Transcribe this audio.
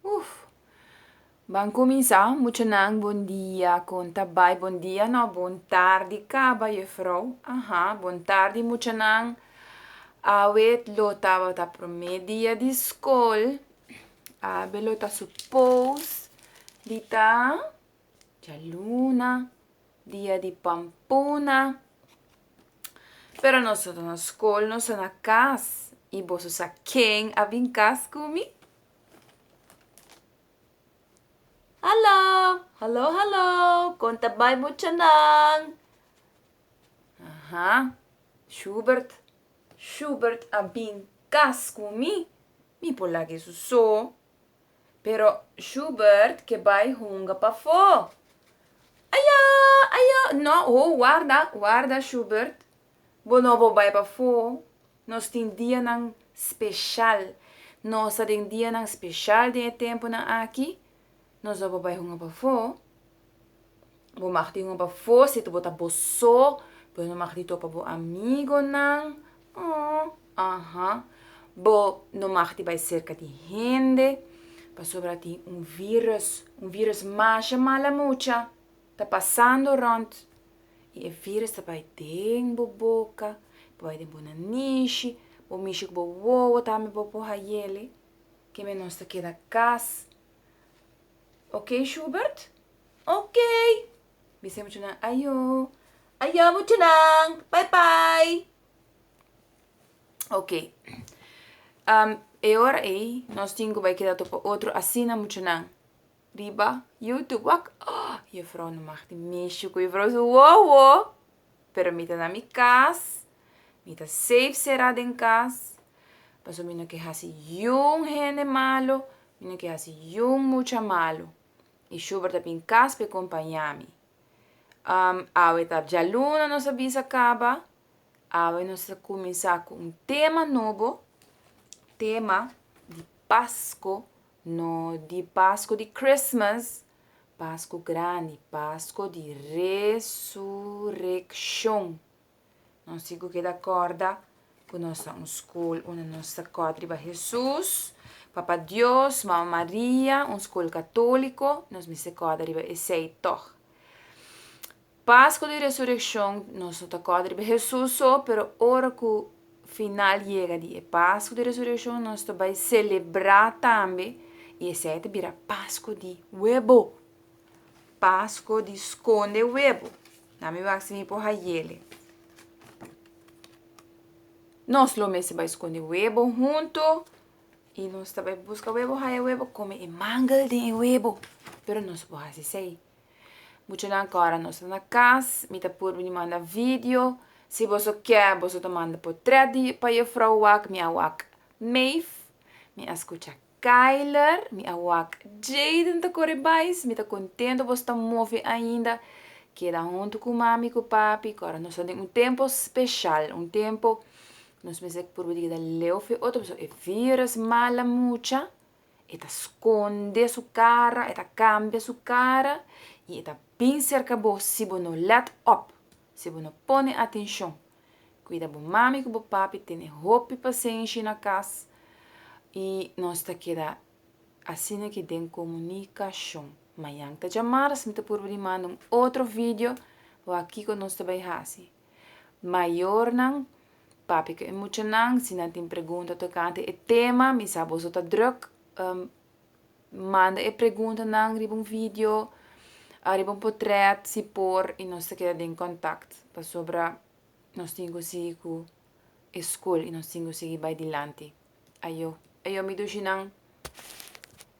Uff! Ban cuminsa, muchanan bon dia con ta bay bon dia no bon tardi caba juffrouw aha bon tardi muchanan awe lo tabata prome dia di school abe lo ta suppose di ta dialuna dia di pampuna pero nos no ta na school nos ta na cas y boso sa ken a bin cas cu mi? Hallo! Hallo, hallo! Kon ta bai muchanan? Aha, Schubert, Schubert a bin kas ku mi, mi por laga eso so. Pero Schubert ke bai hunga pafó. Ayo! Ayo! No, ho, warda, warda, Schubert. Bo no bo bai pafó, nos tin dianan speshal, nos ta den dianan speshal den e tempunan aki, nos no bo bai hunga pafó. Bo mag di hunga pafó situ bo ta bo so, bo no mag di topa bo amigonan, oh, aha, bo no mag di bai serka di hende, pasobra tin un virus, un virus masha mala mucha, Ta pasando rond, i e virus ta bai den bo boka, ta bai den bo nanishi, bo mishi ku bo wowo tambe bo por hayele, ke menos ta keda kas. Ok Shubert? Ok! Bisa e muchanan ayo, ayo muchanan, bai bai! Ok, e ora ei nos tin ku bai keda topa otro asina muchanan. riba youtube wak oh juffrouw no mag tin mishi cu juffrouw su wowo pero mi ta na mi cas mi ta safe cera den cas pasobra mi no ke haci jun hende malo mi no ke haci jun mucha malo y schubert ta bin cas pe compaña mi um awe ta djaluna nos a bisa caba awe nos ta cuminsa cu un tema nobo tema di pasco No di Pasco di Christmas, Pasco Grandi, Pasco di Resureccion. Nos tin cu keda corda cu nos ta un scol unda nos ta cot riba Jesus, Papa Dios, Mama Maria, un scol catolico, nos mester cota riba esey toch. Paskua di Resurekshon, nos no ta kòrda riba Hesus so, pero ora ku final yega di e Paskua di Resurekshon nos ta bai selebrá tambe, i esei ta bira Paskua di Webo, Paskua di Skonde Webo. Na mi wak si mi por hayele. Nos lo mester bai skonde webo huntu i nos ta bai buska webo, haya webo, kome e mangel den e webo, pero nos no por hasi esei. Muchanan kora nos ta na kas mi ta por bini manda video si boso kè boso ta manda potret di pa Juffrouw Wak mi a wak Meif mi a skucha Kayler mi a wak Jayden ta kore bais mi ta kontento boso ta mofi ainda keda huntu ku mami ku papi kora nos ta den un tempo speshal un tempo nos mester por di keda leu fi otro pasobra e virus mala mucha. E ta skonde su kara, e ta kambia su kara i e ta bin serka bo si bo no lèt òp, si bo no pone atenshon. Kuida bo mami ku bo papi tene hopi pasenshi na kas i nos ta keda asina ki den komunikashon. Mañan ta djamarz mi ta purba di manda un otro video, wak kiko nos ta bai hasi. Mayornan, papia ku e muchanan si nan tin pregunta tokante e tema. Mi sa boso ta drùk. Manda e preguntanan riba un video, riba un potrèt si por i nos ta keda den kòntakt pasobra nos tin ku sigui ku e skol i nos tin ku sigui bai dilanti. Ayo, ayo mi dushinan.